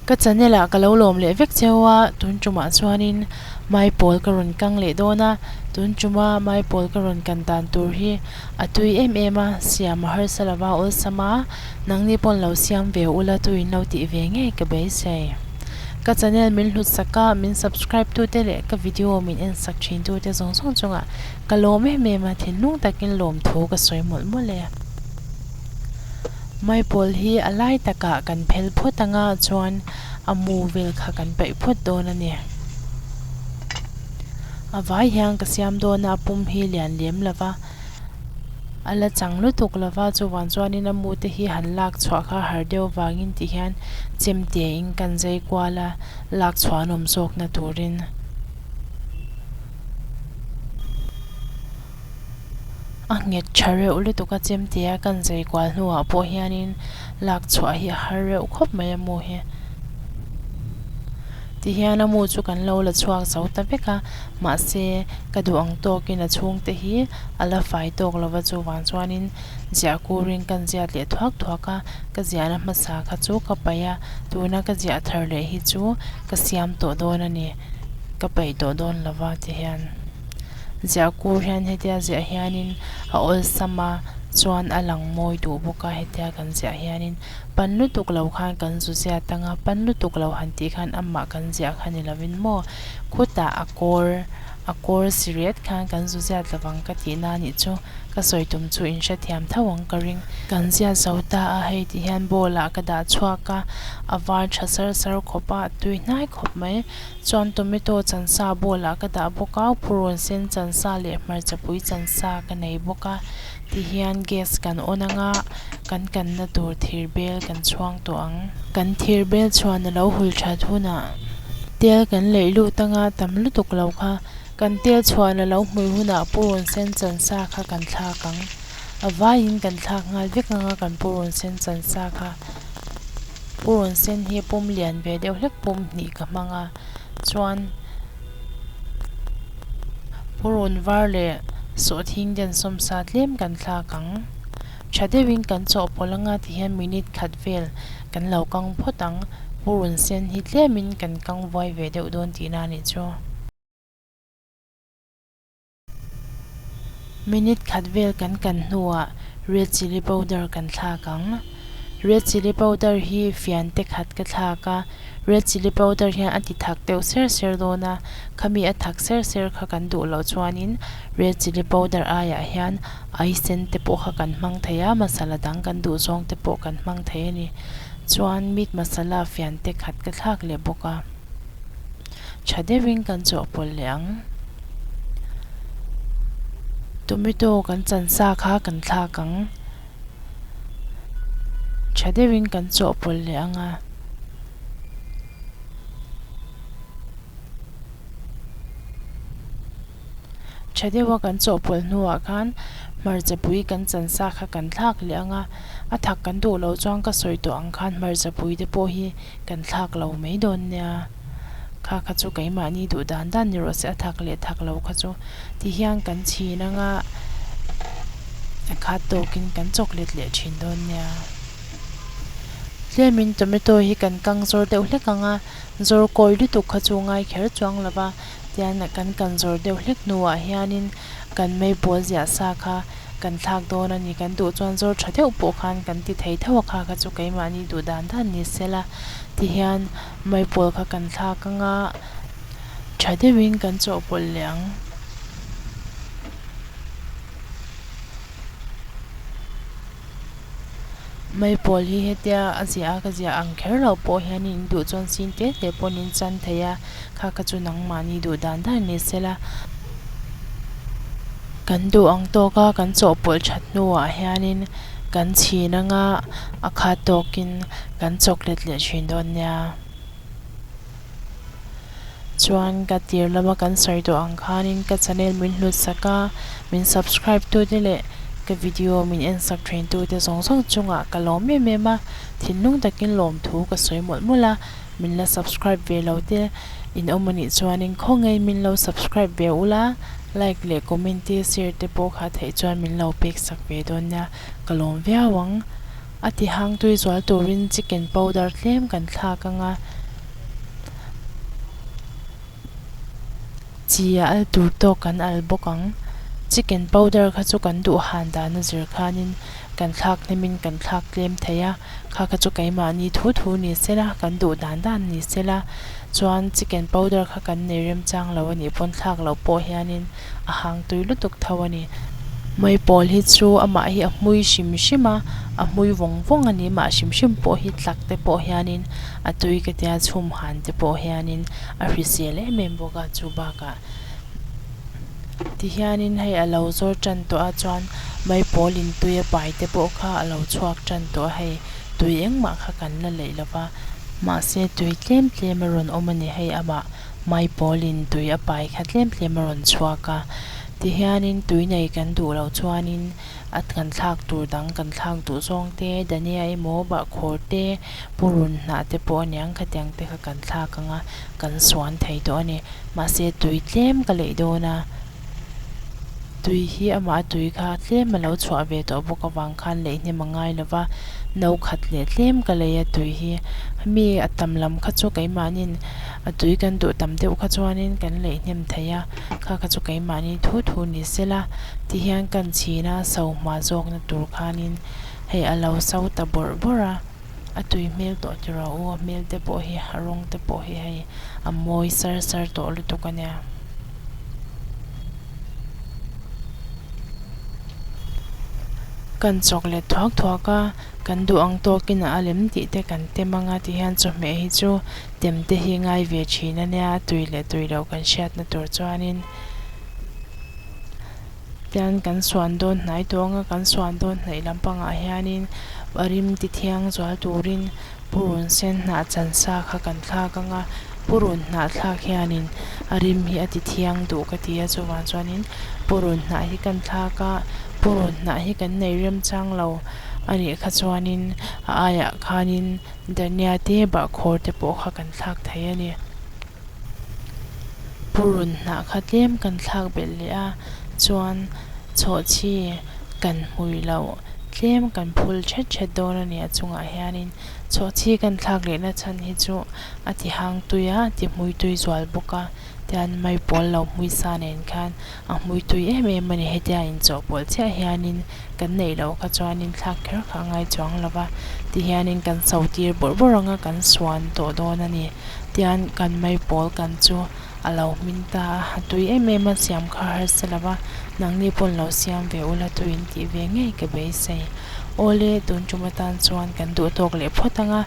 Ka channel ah ka lo lawm leh vek cheu a, tun tumah chuanin mai pawl ka rawn kang leh dawn a, tun tuma mai pawl ka rawn kan dan tur hi. A tui em em a, Siam harsa lova awlsama, nangni pawn lo siam ve ula tuin lo tih ve ngei ka beisei. Ka channel min hlutsak a, min subscribe tute leh ka video min ensak thin tute zawng zawng chunga ka lawm em em a, thinlung takin lawm thu ka sawi mawlh mawlh e. Maipawl hi a lai takah kan phel phawt anga chuan a mu vel kha kan paih phawt dawn a ni. A vai hian ka siam dawn a, a pum hi lian lem lo va, a la chang lutuk lo va, chuvang chuanin a mute hi han lak chhuah kha har deuh vangin tih hian chem tia in kan zai kual a, lak chhuahnawm zawkna turin. a nghet tha reuh lutuk a chem tia kan zui kual hnuah pawh hianin lak chhuah hi a har reuh khawp mai a mu hi. Tihian a mu chu kan lo la chhuak zo ta vek a, mahse ka duh ang tawkin a chhung te hi a la fai tawk lo va chuvang chuanin ziah kurin kan ziat leh thuak thuak a, ka ziahna hmasa kha chu ka paih a, tuna ka ziah thar leh hi chu ka siam tawh dawn a ni. Ka peih tawh dawn lo va ti hian Ziahkur hian hetia ziah hianin a awlsam a chuan a lang mawi duh bawk a, hetia kan ziah hianin pan lutuk lo khan kan zu zia tang a, pan lutuk lo han tih khan amah kan ziah kha ni lo in maw? Khutah a kawr a kawr si riat khan kan zu ziat lo vang ka tihna a nih chu. Ka sawi tum chu in hrethiam tho ang ka ring. Kan ziah zo ta a, hei tih hian bowl ah ka dah chhuak a, a var tha sar sar khawp a, a tui hnai khawp mai. Chuan tomato chansa bowl ah ka dah bawk a, purun sen chansa leh hmarcha pui chansa ka nei bawk a, ti hian gas kan on ang a, kan kan na tur thir bel kan chhuang tawh ang. Kan thir bel chhuan a lo hul that hunah tel kan leih lut ang a, tam lutuk lo kha. Kan tel chhuah la lo hmui hunah purun sen chansa kha kan thlak ang. A vaiin kan thlak nghal vek ngang a kan purun sen chansa kha. Purun sen hi pum lian ve deuh hlek pum hnih ka hmang a, chuan purun var leh sawhthing den sawm sa tlem kan thlak ang. Tha deuhin kan chawhpawlh anga tihian minute khat vel kan lo kang phawt ang, purun sen hi tlemin kan kang vuai ve deuh dawn tihna a nih chu. Minute khat vel kan kan hnuah red chilli powder kan thlak ang. Red chilli powder hi fian te khat ka thlak a, red chilli powder hian a ti thak deuh ser ser dawn a, khami a thak ser ser kha kan duh loh chuanin red chilli powder aiah hian ai sen te pawh kha kan hmang thei a, masala dang kan duh zawng te pawh kan hmang thei a ni. Chuan meat masala fian te khat ka thlak leh bawk a. Tha deuhin kan chawhpawlh leh ang. Tomato kan chansa kha kan thlak ang. Tha deuhin kan chawhpawlh leh ang a. Tha deuha kan chawhpawlh hnuah khan hmarchapui kan chansa kha kan thlak leh ang a. A thak kan duh loh chuan ka sawi tawh ang khan hmarchapui te pawh hi kan thlak lo mai dawn nia. kha kha chu keimahni duh dan dan ni rawh se a thak leh thak lo kha chu ti hian kan chhin anga a khat tawk in kan chawk let leh thin dawn nia tlem in tomato hi kan kang zawr deuh hlek ang a zawr kawi lutuk kha chu ngai kher chuang lo va tian a kan kan zawr deuh hlek hnu ah hian in kan mai bual ziah sa kha kan thlak dawn a ni kan duh chuan zawr tha deuh pawh khan kan ti thei tho a kha kha chu keimahni duh dan dan ni se la ti hian. Maipawl kha kan thlak anga tha deuhin kan chawhpawlh leh ang. Maipawl hi hetia a ziah a ka ziah ang kher loh pawh hian in duh chuan sin te te pawn in chan thei a, kha ka chu nangmahni duh dan dan ni se la. Kan duh ang tawk a, kan chawhpawlh that hnuah hian in kan chhin anga a khat tawkin. Kan chocolate leh thin dawn nia chuan ka tir lama kan sawi tawh ang khanin ka channel min hlut sak a, min subscribe tu te leh ka video min en sak thin tu te zawng zawng chungah ka lawm em em a, thinlung takin lawmthu ka sawi mawlh mawlh a, min la subscribe ve lo te in awm anih chuanin khawngei min lo subscribe ve ul a, like leh comment te share te pawh kha theih chuan min lo pek sak ve dawn nia ka lawm viau ang. A ti hangtui zual turin chicken powder tlem kan thlak ang a, chi a al tur tawk kan al bawk ang. Chicken powder kha chu kan duh han dan a zir khanin kan thlak hlemin kan thlak tlem thei a, kha kha chu keimahni thu thu ni sela, kan duh dan dan ni sela chuan chicken powder kha kan nei remchang lo a nih pawn thlak loh pawh hianin. a hang tui lutuk tho a ni. Mawii pawl hi chu amah hi a hmui hrim hrim a, a hmui vawng vawng a ni, mah hrim hrim pawh hi tlak te pawh hianin a tui ka tia chhum han te pawh hianin a hrizel em em bawk a chu bakah. Tihianin hei a lo zawr tan tawh a chuan mawii pawl in tui a pai te pawh kha a lo chhuak tan tawh a, hei tui engmah kha kan la leih lova, mahse tui tlem tlem a rawn awm a ni hei amah. Mai Pawlin tui a pai kha tlem tlem a rawn chhuak a, tihianin tui nei kan duh loh chuanin a kan thlak tur dang kan thlak duh zawng te, Dania emaw, Bahkhawr te, Pu Run Hnah te pawh a ni ang, khatiang te kha kan thlak ang a, kan suan thei tawh a ni. Mahse tui tlem ka leih dawn a. Tui hi amah a tui kha tlem a lo chhuah ve tawh bawk avang khan leihnem a ngai lo va, no khat leh tlem ka lei a tui hi. Mi a tam lam kha chu keimahni'n a tui kan duh tam deuh kha chuanin kan leihnem thei a, kha kha chu keimahni thu thu ni sela ti hian kan chhin a, sauhma zawkna tur khanin hei a lo sau ta bawrh bawrh a. a tui hmel tawh ti rau u, a hmel te pawh hi a rawng te pawh hi hei a mawi sar sar tawh lutuk a nia. Kan chawk let thuak thuak a, kan duh ang tawk in a lem tih te kan tem ang a ti hian chawhmeh hi chu tem te hi ngai ve thin a nia, a tui leh tui lo kan hriat na tur chuan in. Hian kan suan dawn hnai tawnga kan suan dawn hnaih lampangah hianin a rim tithiang zual turin Pu Run Sen hnah chansa kha kan thlak anga, Pu Run hnah thlak hianin a rim hi a tithiang duh ka ti a, chuvang chuanin Pu Run hnah hi kan thlak a, Pu Run hnah hi kan neih rem chang lo a nih kha chuanin a aiah khanin Dania te Bahkhawr te pawh kha kan thlak thei a ni. Purun hnah kha tlem kan thlak belh leh a, chuan chhawhchi kan hmui loh tlem kan phul ṭhet ṭhet dawn a ni. A chungah hianin chhawhchi kan thlak lehna chhan hi chu a tihangtuia a tihmuitui zual bawk a, tichuan mai pawl lo hmui sa nen khan a hmuitui em em a ni hetia inchawhpawlh chiah hianin kan neih loh kha chuanin thlak kher kha a ngai chuang lo va ti hianin kan so tir bawrh bawrh ang a kan suan tawh dawn a ni tian kan mai pawl kan chu a lo hming ta a a tui em em a siam kha har se lo va nangni pawn lo siam ve ula thu in tih ve ngei ka beisei awle tun tum atan chuan kan duh tawk leh phawt ang a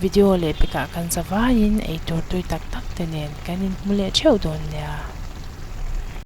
video leh pekah kan zavaiin eitur tui tak tak te nen kan in hmu leh theuh dawn nia.